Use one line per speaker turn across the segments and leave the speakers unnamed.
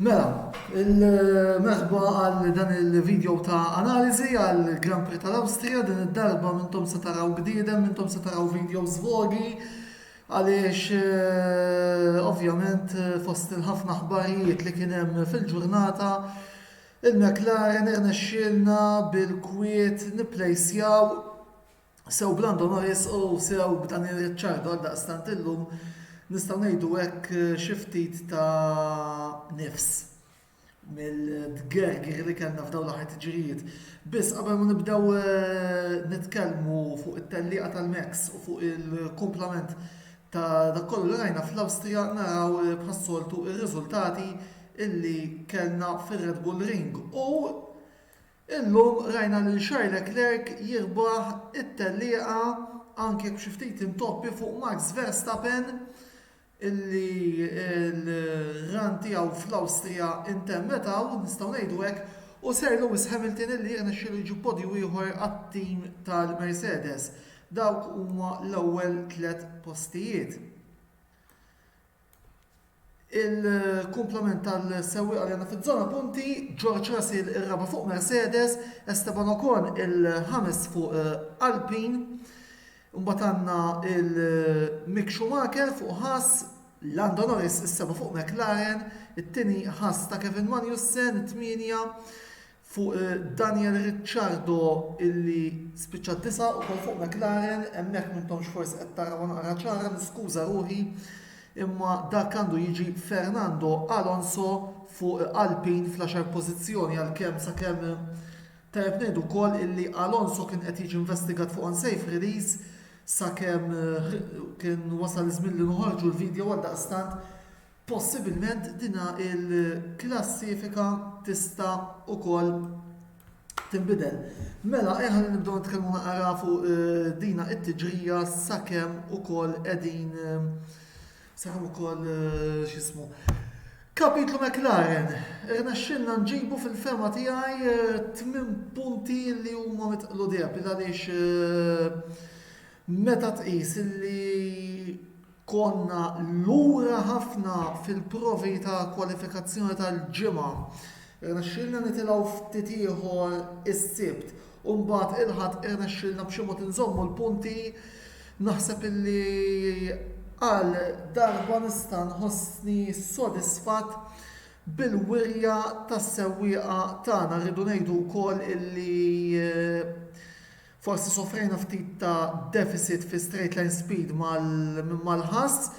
Mela, il-merħba għal dan il-video ta' analiżi għal Grand Prix tal-Awstrija, din id-darba mintom se taraw bniedem, mintom se taraw videos vogi, għaliex eh, ovvjament eh, fost il-ħafna ħbarijiet li kien hemm fil-ġurnata il-McLaren irnexxielna bil-kwiet nipplejsjaw Sew b'Lando Norris u sew b'Daniel Ricciardo għaldaqstant illum nistgħu ngħidu hekk xi ftit ta' nifs mill-dgergir li kellna f'dawn l-aħħar tiġrijiet. Biss qabel ma nibdew eh, nitkellmu fuq it-tellieqa tal-Max u fuq il-kumplament ta' dak kollu li rajna fl-Awstrija naraw eh, bħas-soltu ir-riżultati illi kellna fir-Red Bull Ring u Illum rajna lil Charles Leclerc jirbaħ it-tellieqa anki jekk b'xi ftit intoppi fuq Max Verstappen illi l-run tiegħu fl-Awstrija intemmet hawn, nistgħu ngħidu hekk, u Sir Lewis Hamilton illi jirnexxielu jġib podju ieħor għat-tim tal-Mercedes. Dawk huma l-ewwel tliet postijiet. Il-kumplament tal-sewwieqa li għandna fiż-żona punti, George Russell ir-raba' fuq Mercedes, Esteban Ocon il-ħames fuq eh, Alpine, imbagħad għandna il-Mick Schumacher fuq Haas, Lando Norris is-seba' fuq McLaren, it-tieni Haas ta' Kevin Magnussen, it-tmienja fuq Daniel Ricciardo illi spiċċa disa' ukoll fuq McLaren, hemmhekk m'intomx forsi qed tarawha naqra ċara, niskuża ruħi, imma dak għandu jiġi Fernando Alonso fuq Alpine fl-għaxar pożizzjoni għalkemm sakemm tajjeb ngħidu wkoll illi Alonso kien qed jiġi investigat fuq unsafe release sakemm kien wasal iż-żmien li noħorġu l-vidjow għaldaqstant Possibilment din il-klassifika tista' ukoll tinbidel. Mela ejja ħalli nibdew nitkellmu naqra fuq eh, dina it-tiġrija sakemm ukoll qegħdin eh, sakemm ukoll eh, x'ismu. Kapitlu McLaren, irnexxilna nġibu fil-fema tiegħi tmien punti li huma mitqlu deb għaliex meta tqis li Konna lura ħafna fil-provi ta' kwalifikazzjoni tal-Ġimgħa. Irnexxielna nitilgħu ftit ieħor is-Sibt u mbagħad il-Ħadd irnexxielna b'xi mod inżommu l-punti. Naħseb illi għal darba nista' nħossni sodisfatt bil-wirja tas-sewwieqa tagħna. Rridu ngħidu wkoll illi Forsi sofrejna ftit ta' deficit fi straight line speed mal-Ħass,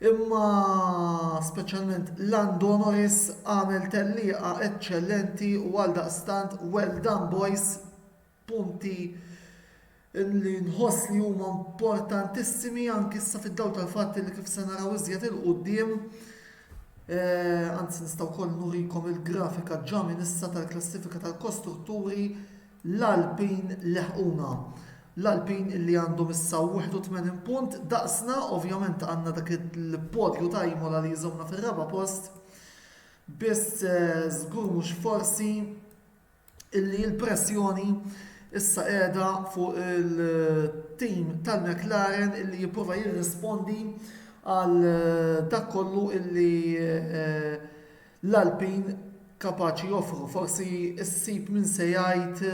imma speċjalment Lando Norris għamel tellieqa eċċellenti u għaldaqstant well done boys, punti li nħoss li huma importantissimi anki issa fid-dawl tal-fatt li kif se naraw iżjed 'il quddiem, anzi nista' wkoll nurikom il-grafika ġa minn issa tal-klassifika tal-kostrutturi, L-Alpin leħquna. L-Alpin illi għandhom issa 81 punt daqsna, ovvjament għandna dak il-podju ta' Imola li jżommna fir-raba' post. Biss żgur mhux forsi illi l-pressjoni issa qiegħda fuq il-tim tal-McLaren illi jipprova jirrispondi għal dak kollu illi L-Għalbin kapaċi joffru forsi ssib min se jgħid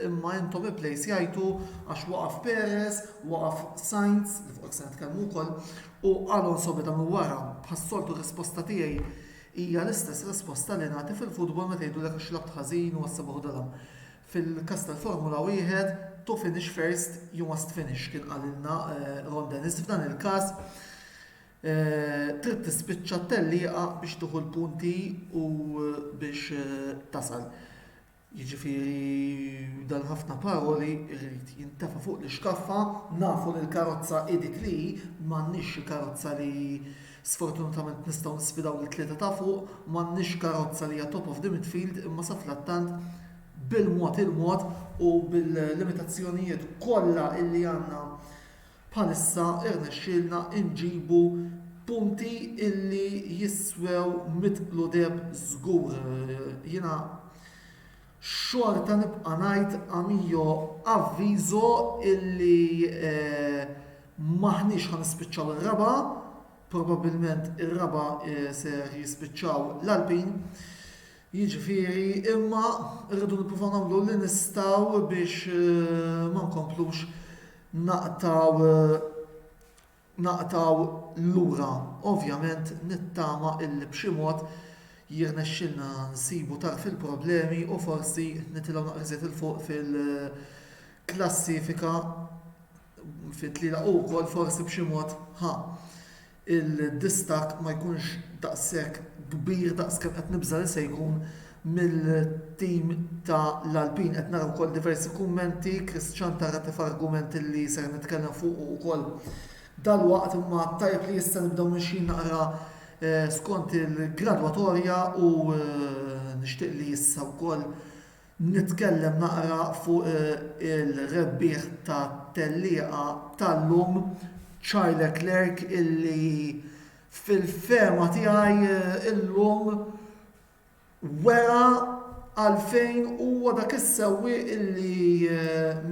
imma intom ipplejsjajtu għax waqaf Perez, waqaf Sainz, li fuqek se nitkellmu wkoll, u Alonso beda minn wara. Bħas-soltu r-risposta tiegħi hija l-istess risposta li nagħti fil-futbol meta jgħidulek għax labt ħażin u għasseb uħud għalha. Fil-każ tal-Formula Wieħed, to finish first, you must finish, kien qalilna Ron Dennis f'dan il-każ. Trid tispiċċa t-tellieqa biex tieħu l-punti u biex tasal. Jiġifieri dan ħafna paroli jrid jintefa' fuq l-ixkaffa, nafu li l-karozza hi dik li hi, m'għandniex xi karozza li sfortunatament nistgħu nisfidaw lit-tlieta ta' fuq, m'għandniex karozza li hija top of the midfield imma safrattant bil-mod il-mod u bil-limitazzjonijiet kollha li għandna Bħalissa rnexxielna nġibu punti illi jiswew mitt kludeb żgur. Jiena xorta nibqa' ngħid a mio avviso illi m'aħniex ħa nispiċċaw ir-raba', probabbilment ir-raba' ser jispiċċaw l-Alpin. Jiġifieri imma rridu nippruvaw nagħmlu li nistgħu biex ma nkomplux naqtgħu naqtgħu lura. Ovvjament nittama illi b'xi mod jirnexxilna nsibu tarf il-problemi u forsi nitilgħu naqra iżjed 'il fuq fil-klassifika fit-tlielaq u wkoll forsi b'xi mod ħa il-distakk ma jkunx daqshekk kbir daqs kemm qed nibża' li se jkun mill-tim ta' l-Alpin. Qed nara wkoll diversi kummenti, Chris Cianta ratef argument li ser nitkellem fuqu wkoll dalwaqt imma tajjeb li issa nibdew mixjin naqra skont il-gradwatorja u nixtieq li issa wkoll Nitkellem naqra fuq il-rebbieħ tat-tellieqa tal-lum Charles Leclerc illi fil-fehma tiegħi illum wera għalfejn huwa dak is-sewwieq illi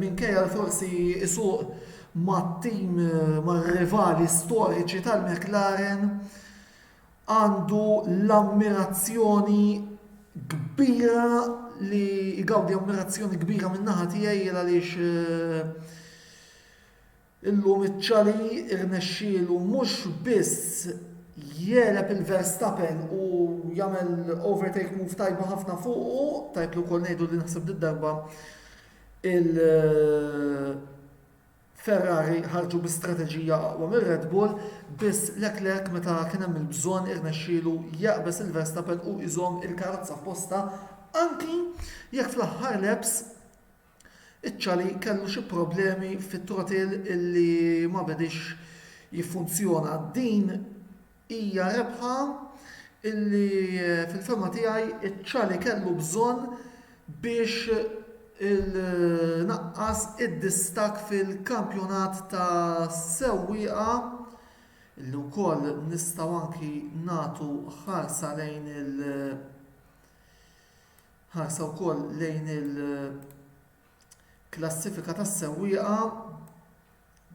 minkejja li forsi isuq mat-tim mar-rivali storiċi tal-McLaren għandu l-ammirazzjoni kbira li jgawdi ammirazzjoni kbira min-naħa tiegħi jien għaliex eh, illum iċ-ċali irnexxielu mhux biss jeleb il-Verstappen u jagħmel overtake move tajba ħafna fuqu, tajb li wkoll ngħidu li naħseb darba il- Ferrari ħarġu bi strateġija aqwa minn Red Bull, biss Leclerc meta kien hemm il-bżonn irnexxielu jaqbeż 'il Verstappen u iżomm il-karozza f'postha anki jekk fl-aħħar laps iċ-Chali kellu xi problemi fit-throttle illi ma bediex jiffunzjona. Din Hija rebħa li fil-fehma tiegħi ċ-Chali kellu bżonn biex inaqqas id-distakk fil-kampjonat ta' sewwieqa li wkoll nistgħu anki nagħtu ħarsa lejn il- ħarsa wkoll lejn il-klassifika tas-sewwieqa.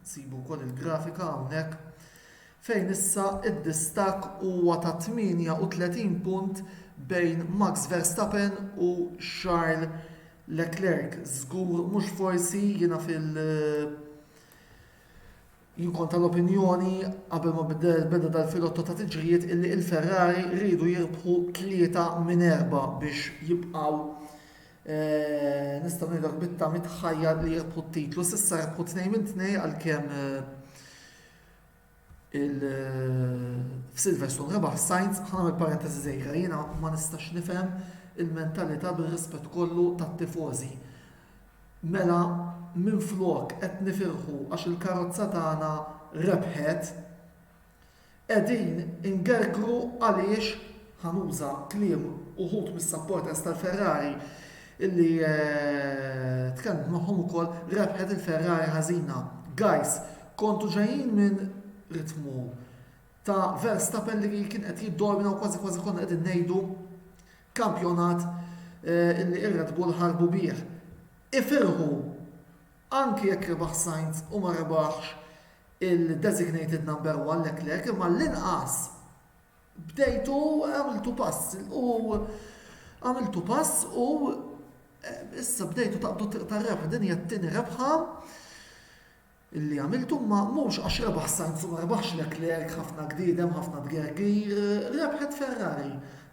Sibu wkoll il-grafika hawnhekk, fejn issa d-distakk huwa ta' 38 punt bejn Max Verstappen u Charles Leclerc. Żgur mhux forsi jiena fil- jien kont tal-opinjoni qabel ma beda dal-filotto ta' tiġrijiet illi l-Ferrari riedu jirbħu tlieta minn erba' biex jibqgħu Nistgħu ngħidu hekk bit-tagħmir tħajjar li rebħu t-titlu. S'issa rebħu tnejn minn tnejn għalkemm f'Silverstone rebaħ Sainz ħana mill-parentesi żgħira jiena ma nistax nifhem il-mentalità bir-rispett kollu tat-tifożi. Mela minflok qed nifirħu għax il-karozza tagħna rebħet, Qegħdin ingergru għaliex, ħa nuża kliem uħud mis-supporters tal-Ferrari li tkellimt magħhom ukoll, rebħet il-Ferrari ħażina. Guys, kontu ġejjin minn ritmu ta' Verstappen li kien qed jiddomina u kważi kważi konna qegħdin ngħidu kampjonat li r-Red Bull ħarbu bih. Ifirħu! Anki jekk rebaħ Sainz u ma rebaħx il-designated number one Leclerc imma għall-inqas bdejtu għamiltu pass u għamiltu pass u eh, issa bdejtu taqbdu triq tar-rebħa din hija t-tieni rebħa illi għamiltu ma mhux għax rebaħ Sainz u ma rebaħx Leclerc ħafna gdidem, ħafna tgergir, rebħet Ferrari.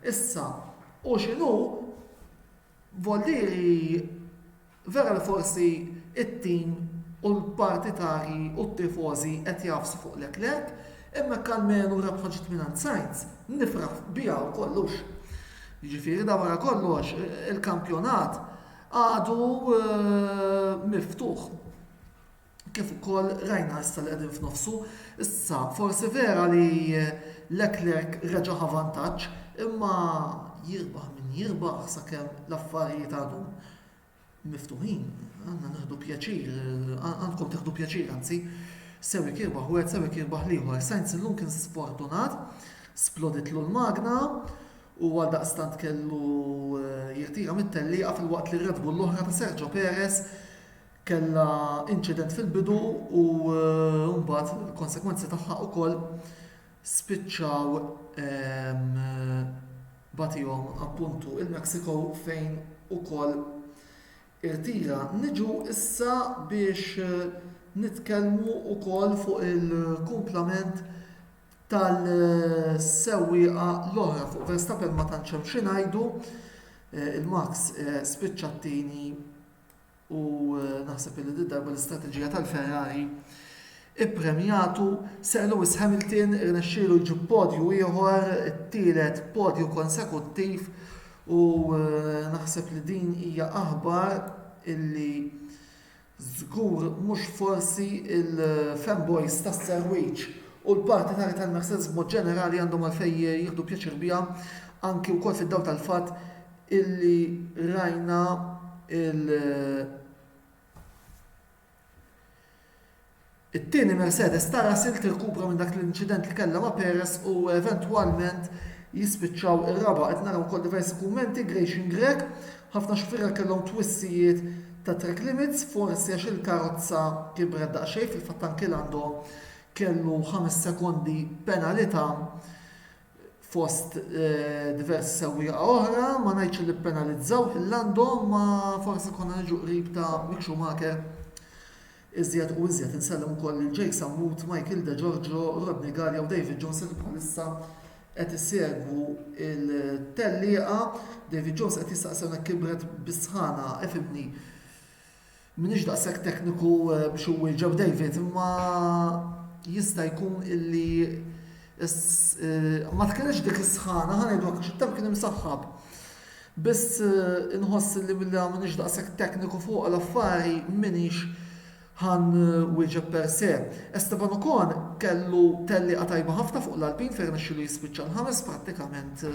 Issa, u xinu Volli vera li forsi t-tim u l-partitarji u t-tifożi qed jagħfsu fuq Leclerc, imma jekk almenu rebħa ġiet mingħand Sainz, nifraħ biha u kollux. Jiġifieri dan wara kollox il-kampjonat għadu miftuħ. kif ukoll rajna issa li qegħdin f'nofsu. Issa, forsi vera li Leclerc reġa' ħa vantaġġ, imma jirbaħ min jirbaħ sakemm l-affarijiet għadhom miftuħin, għandna nieħdu pjaċir, għandkom tieħdu pjaċir anzi, sewi kirbaħ wieħed sewi kirbaħ l-ieħor. Sainz illum kien sfortunat, sploditlu l-magna u għal daqstant kellu eh, jirtira mit-tellieqa fil-waqt li Red Bull l-oħra ta' Sergio Perez kellha inċident fil-bidu u mbagħad il-konsegwenzi tagħha wkoll spiċċaw bagħtihom appuntu il-Mexico fejn ukoll irtira. Niġu issa biex nitkellmu wkoll fuq il-kumplament tal-sewwieqa l-oħra fuq Verstappen ma tantx hemm xi ngħidu. Il-Max spiċċa t-tieni u naħseb illi did-darba l-istrateġija tal-Ferrari ippremjatu Sir Lewis Hamilton irnexxielu jġib podju ieħor, it-tielet podju konsekuttiv u naħseb li din hija aħbar illi żgur mhux forsi il-fanboys tas-Sir Wiċċ u l-partitarji tal-Mercedes b'mod ġenerali għandhom għalfejn jieħdu pjaċir biha anki wkoll fid-dawl tal-fatt illi rajna il It-tieni Mercedes ta' Russell tirkupra minn dak l-inċident li kellha ma' Perez u eventwalment jispiċċaw ir-raba' qed naraw ukoll diversi kummenti Gration Grech ħafna xufiera kellhom twissijiet ta' track limits forsi għax il-karozza kibret daqsxejn fil-fatt anki Lando kellu ħames sekondi penalità fost diversi sewwieqa oħra, ma ngħidx li ppenalizzaw lil għandhom imma forsi konna niġu qrib ta' Mick Schumacher iżjed u iżjed. Insellem ukoll lil Jake Sammut, Michael De Giorgio, Rodney Gallia u David Jones li bħalissa qed isegwu il-tellieqa. David Jones qed jistaqsi hawnhekk kibret bis-sħana, ifhimni. M'iniex daqshekk tekniku biex inwieġeb David, imma jista' jkun illi ma tkellimx dik is-sħana, ħa ngħidu hekk, għax it-temp kien imsaħħab. Biss inħoss illi milli ma m'iniex daqshekk tekniku fuq l-affari m'iniex ħa nwieġeb per se. Esteban Ocon kellu tellieqa tajba ħafna fuq l-Alpine fejn rnexxielu jispiċċa l-ħames prattikament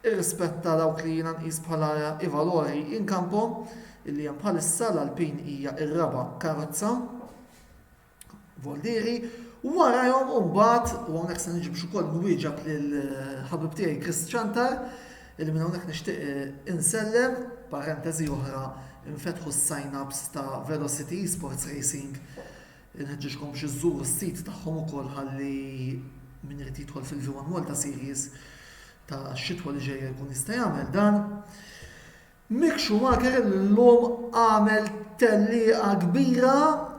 irrispetta dawk li jiena nqis bħala i-valori in campo, illi hemm bħalissa, l-Alpine hija ir-raba' karozza, Voldieri, warajhom u mbagħad, u hawnhekk se niġi biex ukoll nwieġeb lill-ħabib tiegħi Chris Ciantar, illi minn hawnhekk nixtieq insellem, parentesi oħra, infetħu s-sign-ups ta' Velocity Esports Racing Inħeġġiġkom biex iżżuru s-sit tagħhom ukoll ħalli min irid jidħol fil-V1 Malta Series tax-xitwa li ġejja jkun jista' jagħmel dan. Mick Schumacher illum għamel tellieqa kbira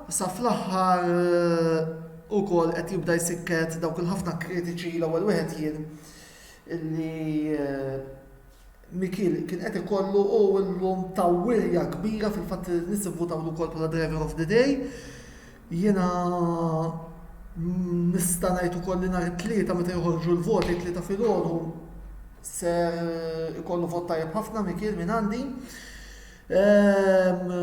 sa fl-aħħar ukoll qed jibda jsikket dawk il-ħafna kritiċi l-ewwel wieħed jien illi Michiel kien qed ikollu u illum ta' wirja kbira fil-fatt li n-nies ivvutawlu wkoll bħala Driver of the Day. Jiena nista' ngħid ukoll li nhar it-Tlieta meta joħorġu l-voti t-Tlieta filgħodu ser ikollu vot tajjeb ħafna Michiel minn għandi. Ehm,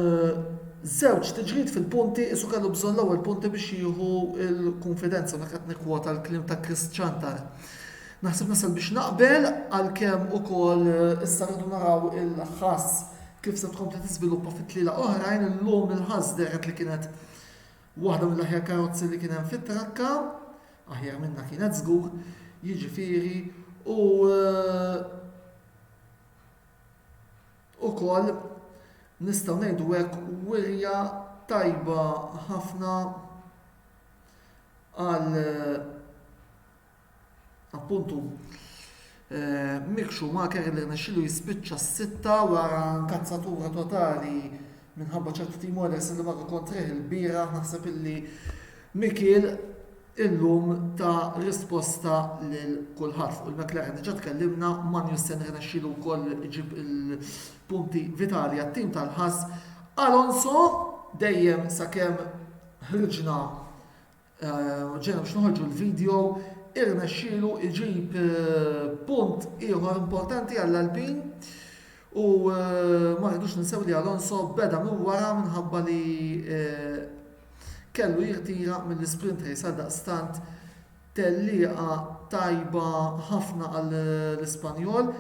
żewġ tiġrid fil-punti isu kellu bżonn l-ewwel punti biex jieħu l-kunfidenza meta qed nikkwota l-kliem ta' Chris Chantar. Naħseb nasal biex naqbel għalkemm ukoll issa rridu naraw il-ħass kif se tkompli tiżviluppa fit-tlielaq oħrajn illum il-ħass dehret li kienet waħda mill-aħjar karozzi li kien hemm fit-trakka, aħjar minnha kienet żgur, jiġifieri u ukoll nistgħu ngħidu hekk wirja tajba ħafna għal Appuntu, Mick Schumacher li rnexxielu jispiċċa s-sitta wara nkazzatura totali minħabba ċertu timores li marru kontrih ilbieraħ naħseb illi Mikiel illum ta risposta lil kulħadd fuq il-McLaren diġà tkellimna, Magnussen rnexxielu wkoll iġib il-punti vitali għat-tim tal-ħass, Alonso dejjem sakemm ħriġna Ġejna biex noħorġu l-video irnexxielu jġib punt ieħor importanti għall-Alpin u ma rridux ninsew li Alonso beda minn wara minħabba li kellu jirtira mill-isprint race għaldaqstant tellieqa tajba ħafna għall-Ispanjol,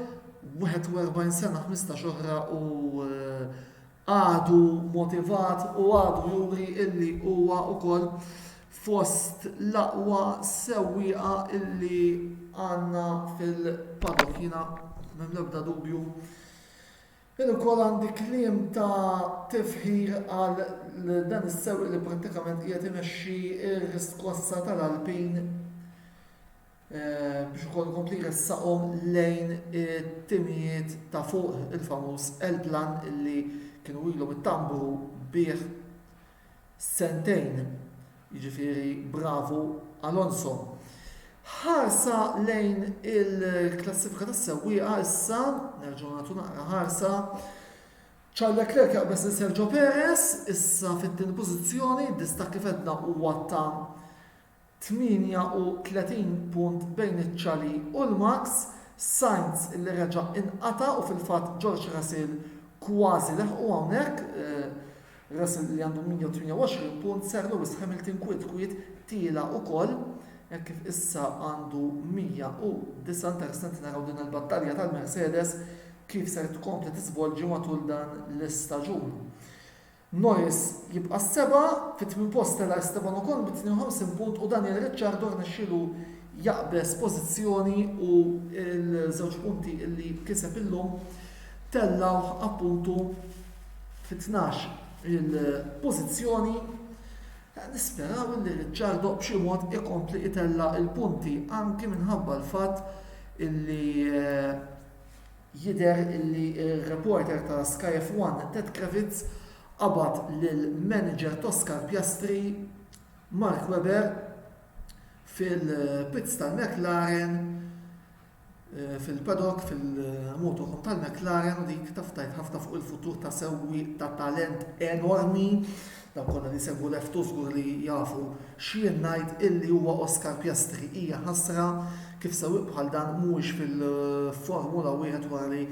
41 sena ħmistax oħra u għadu motivat u għadu juri illi huwa wkoll fost l-aqwa sewwieqa illi għandna fil-paddock. Jiena m'hemm l-ebda dubju illi wkoll għandi kliem ta' tifħir għal dan is-sewwieq li prattikament qiegħed imexxi r-riskossa tal-Alpin. biex ukoll ikompli jressaqhom lejn it-timijiet ta' fuq il-famuż L-Plan illi kienu ilhom ittambru bih sentejn. Jiġifieri bravu Alonso. Ħarsa lejn il-klassifika tas-sewwieqa issa, nerġgħu nagħtu naqra ħarsa. Charles Leclerc jaqbeż lil Sergio Perez, issa fit-tieni pożizzjoni, distakk kif għedna huwa ta' 38 punt bejn iċ-Chally u l-Max, Sainz li reġa' inqata' u fil-fatt George Russell kważi leħqu hawnhekk, Russell li għandu 128 punt, Sir Lewis Hamilton kwiet kwiet tiela' ukoll hekk kif issa għandu 109, interessanti naraw din il-battalja tal-Mercedes kif ser tkompli tiżvolġi matul dan l-istaġun. Norris jibqa' s-seba', fit-tmien post tela' Esteban Ocon bi 52 punt u Daniel Ricciardo rnexxielu jaqbeż pożizzjoni u l-żewġ punti li kiseb illum tellgħuh appuntu fit-tnax il-pożizzjoni. Nisperaw illi Ricciardo b'xi mod ikompli itella' il-punti anki minħabba l-fatt illi Jidher li r-reporter ta' Sky F1 Ted Kravitz qabad lil manager t'Oscar Piastri, Mark Webber, fil-pits tal-McLaren, fil-paddock, fil-motorhome tal-McLaren u dik taf tgħid ħafna fuq il-futur ta' sewwieq ta' talent enormi. Dawk kollha li jsegwu Ref Too żgur li jafu x'jien ngħid illi huwa Oscar Piastri. Hija ħasra kif sewwieq bħal dan mhuwiex fil-Formula Wieħed wara li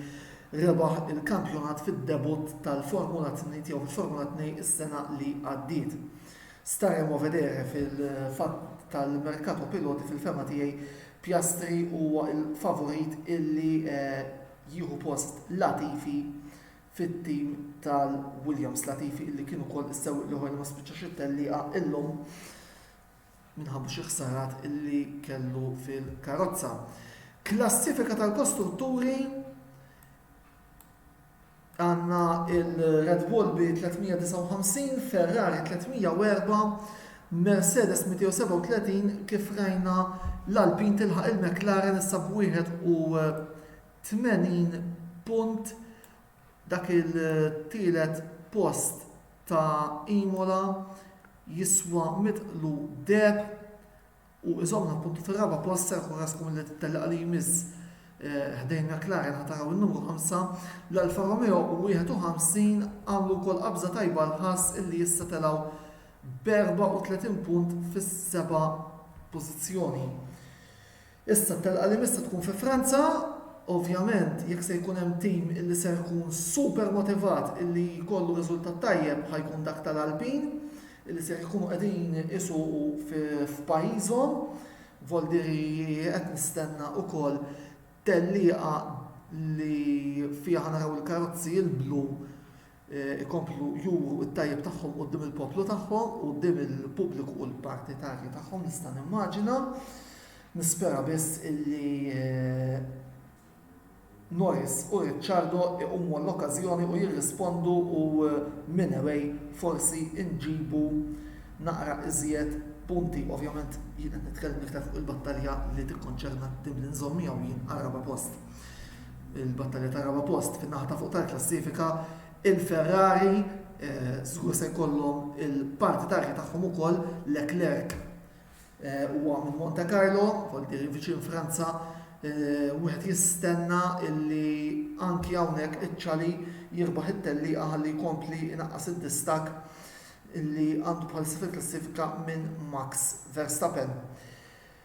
rebaħ il-kampjonat fid-debutt tal-Formula Tni tiegħu fil-Formula Tnej is-sena li għaddiet. Staremo vedere fil-fatt tal-merkato piloti fil-fehma tiegħi Piastri huwa l-favorit illi jieħu post Latifi fit-tim tal-Williams. Latifi illi kien ukoll is-sewwieq l-ieħor li ma spiċċax it-tellieqa illum minħabba xi ħsarat illi kellu fil-karozza. Klassifika tal-kostrutturi għanna il-Red Bull bi 359, Ferrari 304, Mercedes 237 kif rajna l-Alpin tilħaq il-McLaren issa b'31 80 punt dak il-tielet post ta' Imola jiswa mitqlu deheb u iżomm l-appuntu tar-raba' post ser ikun raskom li t-tellieqa li jmiss ħdejn McLaren ħa taraw in-numru 5. L-Alfa Romeo 51 għamlu wkoll qabża tajba l-ħass illi issa telgħu b' 34 punt fis-seba' pożizzjoni. Issa t-telqa li miss se tkun fi Franza, ovvjament jekk se jkun hemm tim illi ser ikun super motivat illi jkollu riżultat tajjeb ħa jkun dak tal-Alpin illi ser ikunu qegħdin isuqu f'pajjiżhom. Voldiri qed nistenna wkoll tellieqa li fiha ħa naraw il-karozzi l-blu ikomplu juru t-tajjeb tagħhom quddiem il-poplu tagħhom u quddiem il-pubbliku u l-partitarji tagħhom nista' nimmaġina. Nispera biss illi Norris u Ricciardo iqumu għall-okkażjoni u jirrispondu u minn away forsi nġibu naqra iżjed punti. Ovvjament jien qed nitkellem iktar fuq il-battalja li tikkonċerna t-tim li nżomm miegħu jien għar-raba' post. il-battalja tar-raba' post fin-naħa ta' fuq tal-klassifika, il-Ferrari żgur se jkollhom il-parti tarji tagħhom ukoll, Leclerc huwa minn Monte Carlo, voltieri viċin Franza, wieħed jistenna li anki hawnhekk iċ-Ċali jirbaħ it-tellieqa ħalli jkompli jnaqqas id-distakk li għandu bħalissa fil-klassifika minn Max Verstappen.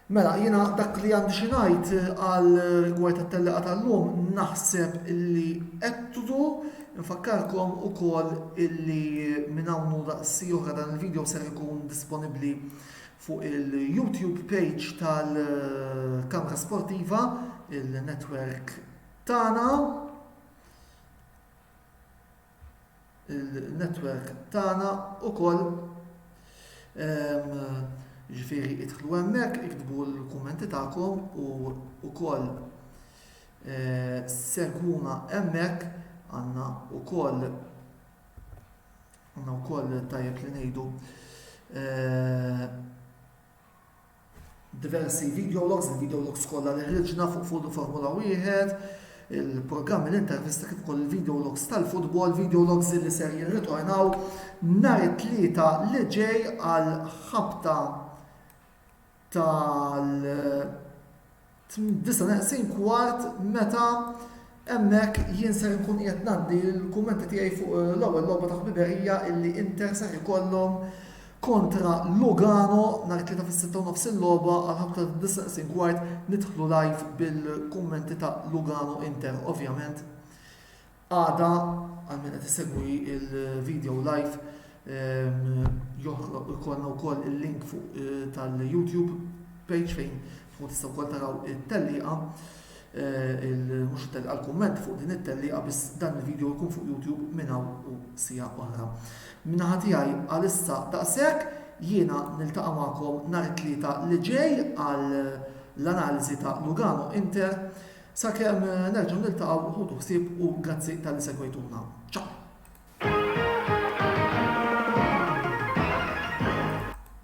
Mela, jiena dak li għandi xi ngħid għal rigward tat-tellieqa tal-lum, naħseb illi għedtuh, infakkarkom ukoll illi minn hawn u daqsxi oħra dan il-video ser ikun disponibbli fuq il-YouTube page tal-Kamra Sportiva, il-netwerk tagħna. il-network tagħna ukoll ġifieri idħlu hemmhekk iktbu l-kummenti tagħkom u wkoll segwuna hemmhekk għandna wkoll għandna wkoll tajjeb li ngħidu diversi video logs, il-video logs kollha li ħriġna fuq fuq il-Formula 1, il-programmi l-intervisti kif ukoll il-video logs tal-futbol, video logs li ser jirritornaw nhar it-tlieta li ġej għal ħabta tal 9 neqsin kwart meta hemmhekk jien ser inkun qiegħed ngħaddi l-kummenti tiegħi fuq l-ewwel logħba ta' ħbiberija illi Inter ser ikollhom kontra Lugano nhar it-Tlieta fis-sitta u nofs il-logħba għall-ħabta tad-disa' neqsin kwart nidħlu live bil-kummenti ta' Lugano Inter ovvjament. Għada, għal min qed isegwi l-video live, joħroq ikollna wkoll il-link fuq eh, tal-YouTube page fejn tkun tista' wkoll taraw it-tellieqa eh, il-mux tellieqa l-kumment fuq din it-tellieqa biss dan il-video jkun fuq YouTube minn hawn u sija oħra. Minnaħa tiegħi għalissa daqshekk jiena niltaqa' magħkom nhar it-tlieta li ġej għal l-analiżi ta' Lugano Inter Sakemm nerġgħu niltaqgħu ħudu ħsieb u grazzi talli segwejtuna. Ciao!